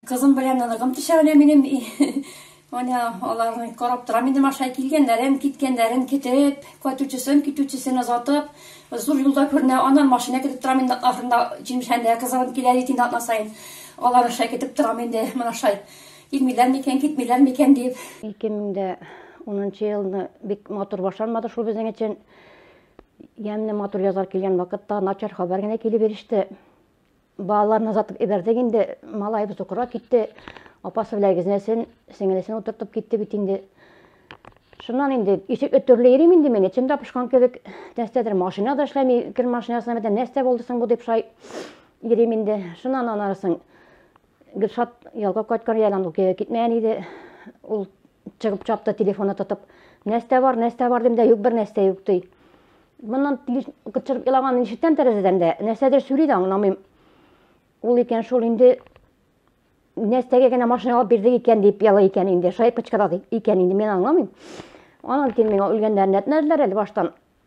Кызым белән ныгым төшә менә минем. Менә аларны карап торам инде машина килгәннәрен, киткәннәрен китеп, кайтучысын, китүчесен озатып, зур юлда күренә, аннан машина китеп торам инде ахырында җимшәндә кызым килә бит инде атна саен. Алар аша китеп торам инде менә шай. Килмиләр микән, китмиләр микән дип. 2010 елны бик матур башланмады шул безнең өчен. Ямьле, матур язлар килгән вакытта начар хәбәр генә килеп иреште. Балаларны озатып ибәрдек инде, малаебыз укырга китте. Апасы белән гизнәсен, сеңелесен утыртып китте бит инде. Шуннан инде ишек өтерле йөрим инде мин, эчем тапышкан кебек, нәрсәдер машина да эшләми, кер машинасына бетә, нәрсә булды соң бу дип шай йөрим инде. Шуннан анарсын Гөлшат ялга кайткан иде, ул көйгә китмәгән иде. Ул чыгып чапты, телефоны тотып. Нәрсә бар, нәрсә бар дим дә, юк бер нәрсә юк ди. Моннан чыгып елаган ишеттән тәрәзәдән дә нәрсәдер сөйли дә аңламыйм. Ул икән шул инде нәрсәгә генә машина алып бирдек икән дип яла икән инде, шаеп кычкыра икән инде, мин аңламыйм. Анан кин миңа үлгәннәрен әйтмәделәр әле баштан.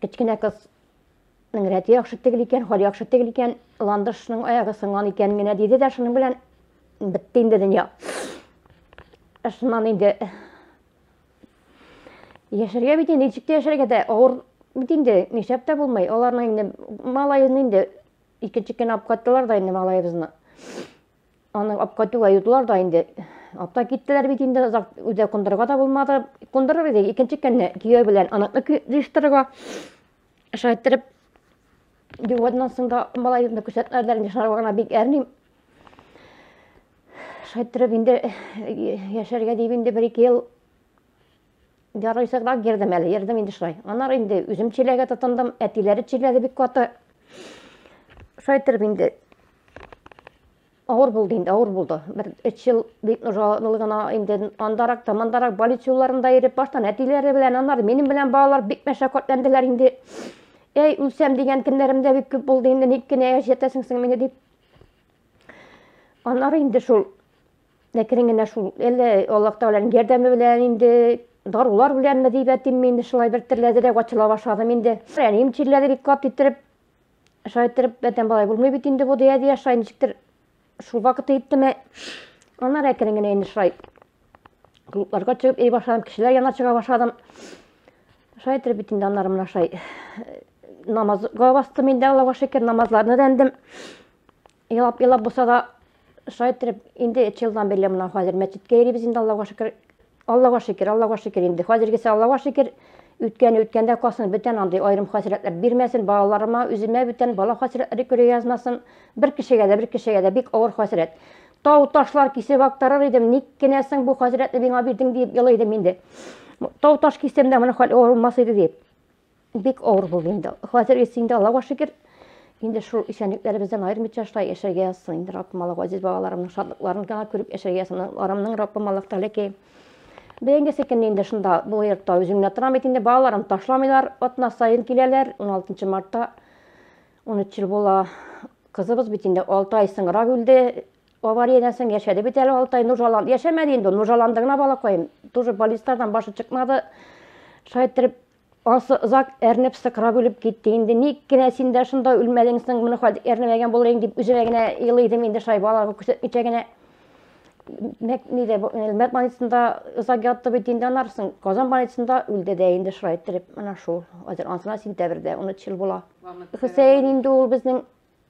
Кечкенә кыз Ның рәте яхшы тегел икән, хәл яхшы тегел икән, ландышның аягы сынган икән генә диде дә шуның белән бетте инде дөнья. Шуннан инде яшәргә бит инде ничек тә яшәргә дә авыр бит инде нишләп тә булмый. Аларның инде малаен инде икенче көн алып кайттылар да инде малаебызны. Аны апкайтуга юдылар да инде. Апта киттеләр бит инде, озак үдә кундырырга да булмады. Кундырыр иде, икенче көнне кияү белән аныкны җыештырырга шайтырып югаднан соң да малайны күрсәтмәделәр инде, шулар гына бик әрним. Шайтырып инде яшәргә дип инде бер-ике ел Ярый сыграк йөрдем әле, йөрдем инде шулай. Аннары инде үзем чиләгә тотындым, әтиләре чиләде бик каты. Шулай торып инде авыр булды инде, авыр булды. Бер өч ел бик нужалы гына инде андарак та, мандарак больница юлларында йөреп, баштан әтиләре белән, аннары минем белән балалар бик мәшәкатьләнделәр инде. Әй, үлсәм дигән көннәрем дә бик күп булды инде, ник кенә яшәтәсең син мине дип. Аннары инде шул Ләкин генә шул әле Аллаһ Тәгаләнең ярдәме белән инде дарулар беләнме дип әйтим мин шулай бер терләдерәк ачыла башладым инде. Әнием чирләде бик кат иттереп. Шулай иттереп бәтән балай булмый бит инде бу дия дия шулай ничектер шул вакыт иттеме. Аннары әкрен генә инде шулай клубларга чыгып ей башладым, кешеләр янына чыга башладым. Шулай иттереп бит инде аннары менә шулай намазга бастым инде Аллага шөкер, намазларны да эндем. Елап, елап булса да шайтырып, инде өч елдан бирле мына хәзер мәчеткә йөрибез инде, Аллага шөкер. Аллага шөкер, Аллага шөкер инде. Хәзергесе Аллага шөкер. Үткәне үткәндә калсын, бүтән андый аерым хәсрәтләр бирмәсен, балаларыма, үземә бүтән бала хәсрәтләре күрә язмасын. Бер кешегә дә, бер кешегә дә бик авыр хәсрәт. Тау ташлар кисеп актарыр идем, ник кенә соң бу хәсрәтне миңа бирдең дип елый идем инде. Тау таш кисем дә моны хәл авыр булмас иде дип. Бик авыр булды инде. Хәзер исә инде Аллага шөкер, инде шул исәнлекләребездән аермыйча шулай яшәргә язсын инде Раббым Аллага газиз балаларымның шатлыкларын гына күреп яшәргә язсын. Арымның Раббым Аллаһ Тәгалә ки. Бәйгесе көн инде шунда бу йортта үзем генә торам бит инде балаларым ташламыйлар, атна саен киләләр. 16 мартта 13 ел була. Кызыбыз бит инде 6 ай соңрак үлде. Авариядән соң яшәде бит әле алты ай, нужаланды. Яшәмәде инде ул, нужаланды гына балакаем. Тоже баллистардан башы чыкмады. Шулай иттереп, ансы озак әрнеп, сыкрап үлеп китте. Инде ник кенә син дә шунда үлмәдең соң, моны хәзер әрнемәгән булыр инде дип үземә генә елый идем инде шулай балага күрсәтмичә генә. Нидә, Әлмәт больницасында озак ятты бит инде аннан соң. Казан больницасында үлде дә инде шулай иттереп. Менә шул. Хәзер ансына сентябрьдә 13 ел була. Хөсәен инде ул безнең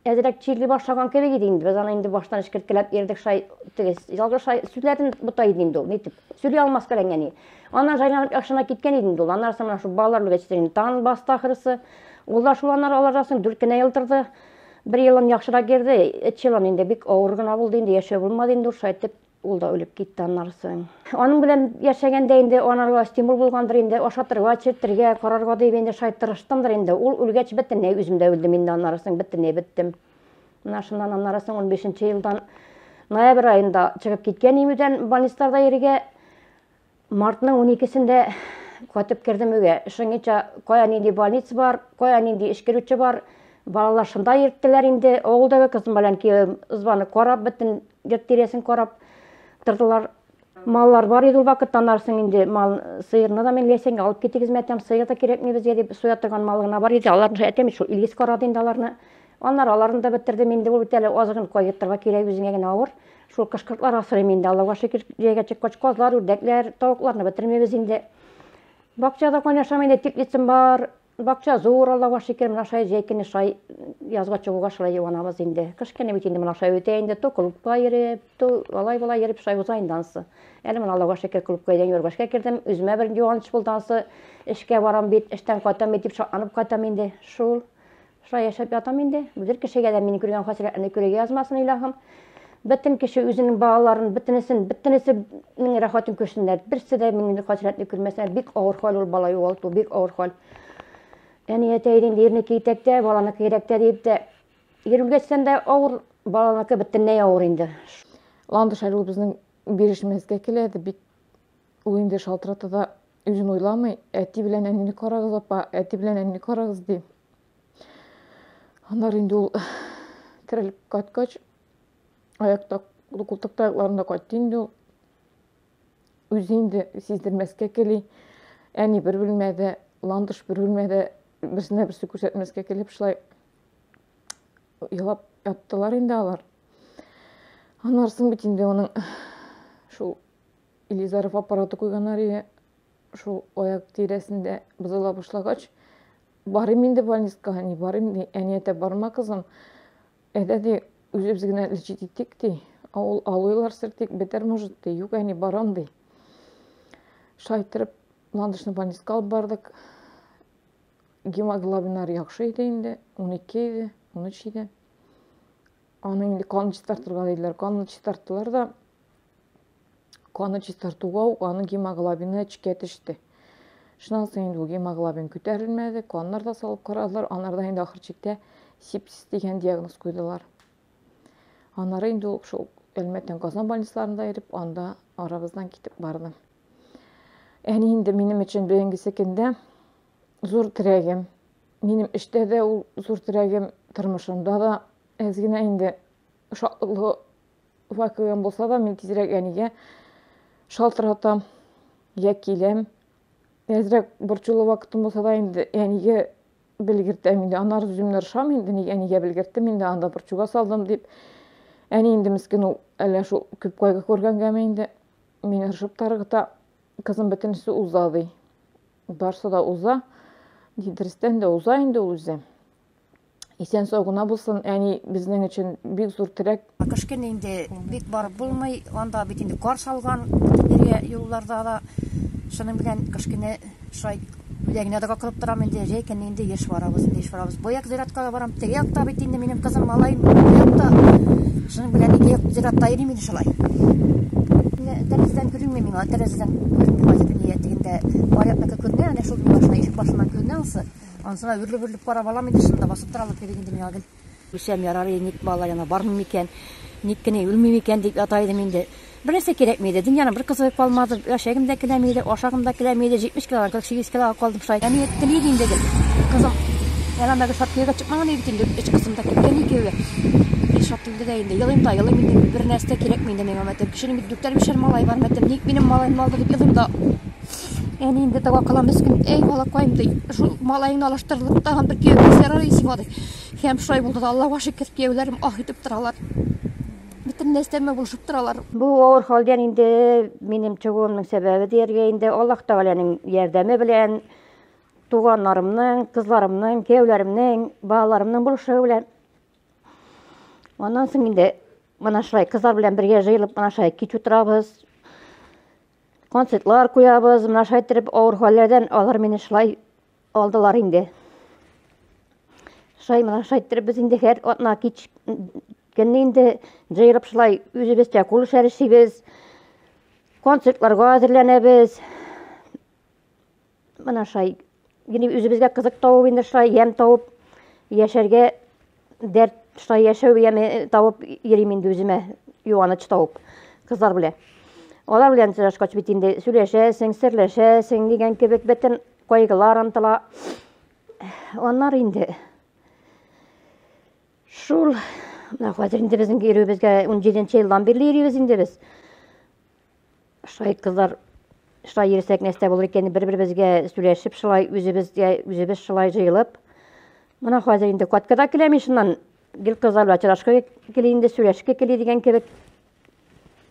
Әзрәк чирли башлаган кебек иде инде. Без аны инде баштан эшкерткәләп ирдек шай теге ялгыш шай сүзләрен бота иде инде ул. Нитеп сөйли алмас каләнгәни. Аннан җайланып яхшына киткән иде инде ул. Аннан соң шул балалар үлгәч инде тан басты ахрысы. Ул да шул аннары алардан соң дүрт кенә ел торды. Бер елын яхшырак йөрде, өч елын инде бик авыр гына булды инде, яшәү булмады инде ул шайтып. Ул да үлеп китте аннан соң. Аның белән яшәгәндә инде анарга стимул булгандыр инде, ашатырга, чертергә, карарга дип инде шай тырыштымдыр инде. Ул үлгәч бөтенләй үзем дә үлдем инде аннан соң, бөтенләй беттем. Менә шуннан аннан соң 15 елдан ноябрь айында чыгып киткән имүдән больницаларда йөрергә. Мартның уникесендә кайтып кердем өйгә. Шуңынча кая нинди больница бар, кая нинди эш керүче бар, балалар шунда йөрттеләр инде. Авылдагы кызым белән кием ызбаны карап, бөтен йорт тирәсен карап тордылар. Маллар бар иде ул вакытта, анарсын инде мал сыерны да мин ләсәнгә алып китегез мәтәм, сыер да кирәкми безгә дип соя торган мал гына бар иде. Аларны әтәм шул Илгиз карады инде аларны. Аннары аларны да бетердем инде ул бит әле азыгын кайгыртырга кирәк үзеңә генә авыр. Шул кышкыртлар асрыйм инде, Аллага шөкер, җәйгә чыккач, казлар, үрдәкләр, тавыкларны бетермибез инде. Бакчада кайнашам инде, теплицам бар. Бакча зур, Аллага шөкер, менә шулай җәй көне шулай язга чыгуга шулай юанабыз инде. Кыш көне бит инде менә шулай үтә инде, то клубка йөреп, то алай-болай йөреп шулай уза инде ансы. Әле менә Аллага шөкер, клубка идән юргашка кердем, үземә бер юаныч булды ансы. Эшкә барам бит, эштән кайтам бит дип шатланып кайтам инде. Шул Шулай яшәп ятам инде. Бер кешегә дә мине күргән хәсрәтне күрергә язмасын, илаһым. Бөтен кеше үзенең балаларын, бөтенесен, бөтенесенең рәхәтен күрсеннәр. Берсе дә мине хәсрәтне күрмәсен. Бик авыр хәл ул бала югалту, бик авыр хәл. Әни әтәйдин дирне китәктә, баланы кирәктә дип тә ирүлгәчтән дә авыр, баланы кебеттеннәй авыр инде. Ландыш әле безнең бирешмәскә килә, бик ул инде шалтырата да үзен уйламый, әти белән әнине карагыз, апа, әти белән әнине карагыз ди. Аннары инде ул керелеп кайткач, аякта култык таякларында кайтты инде ул. Үзе инде сиздермәскә кели, әни бер бүлмәдә, ландыш бер бүлмәдә берсенә берсе күрсәтмәскә килеп шулай елап яттылар инде алар. Аннары соң бит инде аның шул Илизаров аппараты куйганнар иде. шул аяк тирәсендә бозыла башлагач, барыйм инде больницага, не барыйм, ди, әни әтә барма кызым, әйдә ди, үзебез генә лечить итик, ди, авыл алыйлар сертик, бетәр может, ди, юк әни барам, ди. Шайтырып, ландышны больницага алып бардык. Гемоглобиннар яхшы иде инде, 12 иде, 13 иде. Аның инде канын чистартырга диделәр, канын чистарттылар да, Каны чистартуга ук аның гемоглобины эчкә төште. Шуннан соң инде гемоглобин күтәрелмәде, каннар да салып карадылар, анарда инде ахыр чиктә сепсис дигән диагноз куйдылар. Анары инде ул шул Әлмәттән Казан больницаларында иреп, анда арабыздан китеп барды. Әни инде минем өчен бүгенгесе көндә зур терәгем. Минем эштә дә ул зур терәгем, тормышымда да әз генә инде Шатлы вакыйгам булса да, мин тизрәк әнигә шалтыратам, я киләм. Әзрәк борчулы вакытым булса да инде әнигә белгертәм инде. Анар үземне ыршам инде, ник әнигә белгерттем инде, анда борчуга салдым дип. Әни инде мискен ул, әллә шул күп кайгы күргәнгәме инде. Мин ыршып таргыта, кызым бөтенесе уза ди. Барсы да уза. Дидрестән дә уза инде ул үзе. Исән-сау гына булсын, әни безнең өчен бик зур терәк. Кышкын инде бик барып булмый, анда бит инде кар салган, бөтенләре юлларда да. Шуның белән кышкыны шулай үзәгенә дә кылып торам инде, җәйкән инде еш барабыз, инде еш барабыз. Бояк зиратка да барам, теге якта бит инде минем кызым, малаем, якта. Шуның белән ике як зиратта йөрим инде шулай. Тәрәзәдән күренми миңа, тәрәзәдән күренми хәзер дөнья тегендә. Бар якта күренә, әнә шул башына ишек башыннан күренә ансы. Ансына үрлеп-үрлеп кара балам инде шунда басып торалар кебек инде миңа гел. Үлсәм ярар иде, ник балалар янына бармыйм икән, ник кенә үлмим икән дип ята идем инде. Бернәрсә кирәкми иде, дөньяның бер кызыгы калмады, яшәгем дә киләми иде, ашагым да киләми иде, 70 килограмм, 48 килога калдым шулай. Әни әйтте иде инде гел, кызым, Әләмәгә шат кияүгә чыкмаган иде инде, өч кызым да киткән икәүгә. Мин шат инде дә инде, елыйм да елыйм инде, бернәрсә дә кирәкми инде миңа, мәтәм, кешенең бит дүртәр-бишәр малае бар, мәтәм, ник минем малаемны алды дип елыйм да. Әни инде дәва кылам өскін. Әй, балакайым, ди. Шул малайыңны алаштырылып, тагын бер кияү кисәр ара исең ады. Һәм шулай булды да, Аллаһуга шөкер, кияүләрем ах итеп торалар. Бөтен нәрсәмә булышып торалар. Бу авыр хәлдән инде минем чыгуымның сәбәбе дияргә инде Аллаһ Тәгаләнең ярдәме белән, туганнарымның, кызларымның, кияүләремнең, балаларымның булышуы белән. Аннан соң инде мына шулай кызлар белән бергә җыелып мына шулай кич утырабыз. Концертлар куябыз, менә шулай итеп авыр хәлләрдән алар мине шулай алдылар инде. Шулай менә шулай итеп без инде һәр атна кич көнне инде җыелып шулай үзебезчә кул эшләре эшлибез. Концертларга әзерләнәбез. Менә шулай генә үзебезгә кызык табып инде шулай ямь табып яшәргә дәрт шулай яшәү яме э, табып йөрим инде үземә юаныч табып кызлар белән. Алар белән сөйләшкәч бит инде сөйләшәсең, серләшәсең дигән кебек бөтен кайгылар онтыла. Аннар инде шул хәзер инде безнең йөрүебезгә 17 елдан бирле йөрибез инде без. Шулай кызлар, шулай йөрсәк нәрсә булыр икән, бер-беребезгә сөйләшеп, шулай үзебезгә үзебез шулай җыелып. Менә хәзер инде каткада киләм ишеннән. Гел кызлар белән чырашка кили инде, сөйләшкә кили дигән кебек.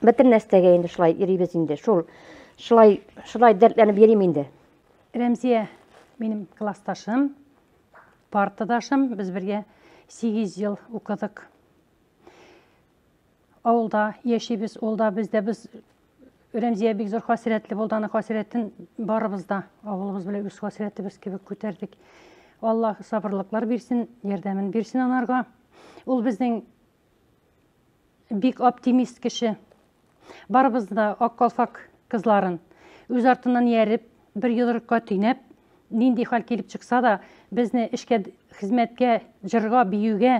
Бөтен нәрсәгә инде шулай йөрибез инде. Шул шулай шулай дәртләнеп йөрим инде. Рәмзия минем классташым, партадашым. Без бергә 8 ел укыдык. авылда яшибез, ул да без дә без Рәмзия бик зур хәсрәтле булды, аны хәсрәтен барыбыз да авылыбыз белән үз хәсрәтебез кебек күтәрдек. Алла сабырлыклар бирсен, ярдәмен бирсен анарга. Ул безнең бик оптимист кеше. Барыбыз да ак калфак кызларын үз артыннан ияреп, бер йодрыкка төйнәп, нинди хәл килеп чыкса да, безне эшкә, хезмәткә, җырга, биюгә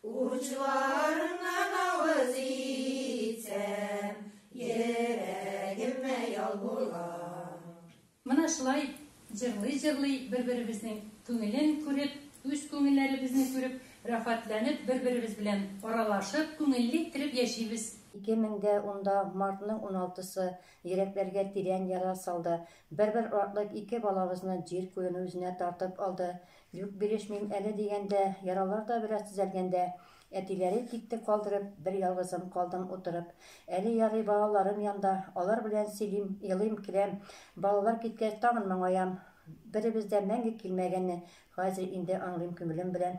Учларыңнан авыз итсәм, йөрәгемә ял була. Менә шулай җырлый-җырлый, бер-беребезнең күңелен күреп, үз күңелләребезне күреп, рәхәтләнеп, бер-беребез белән аралашып, күңелле иттереп яшибез. Ике мең дә унда мартның уналтысы йөрәкләргә тирән яра салды. Бер-бер артлы ике балабызны җир күлене үзенә тартып алды. Юк, бирешмим әле, дигәндә, яралар да бераз төзәлгәндә, әтиләре тикте калдырып, бер ялгызым калдым утырып. Әле ярый балаларым янда, алар белән сөйлим, елыйм, көләм. Балалар киткәч, тагын моңаям. Беребез дә мәңге килмәгәнне хәзер инде аңлыйм күңелем белән.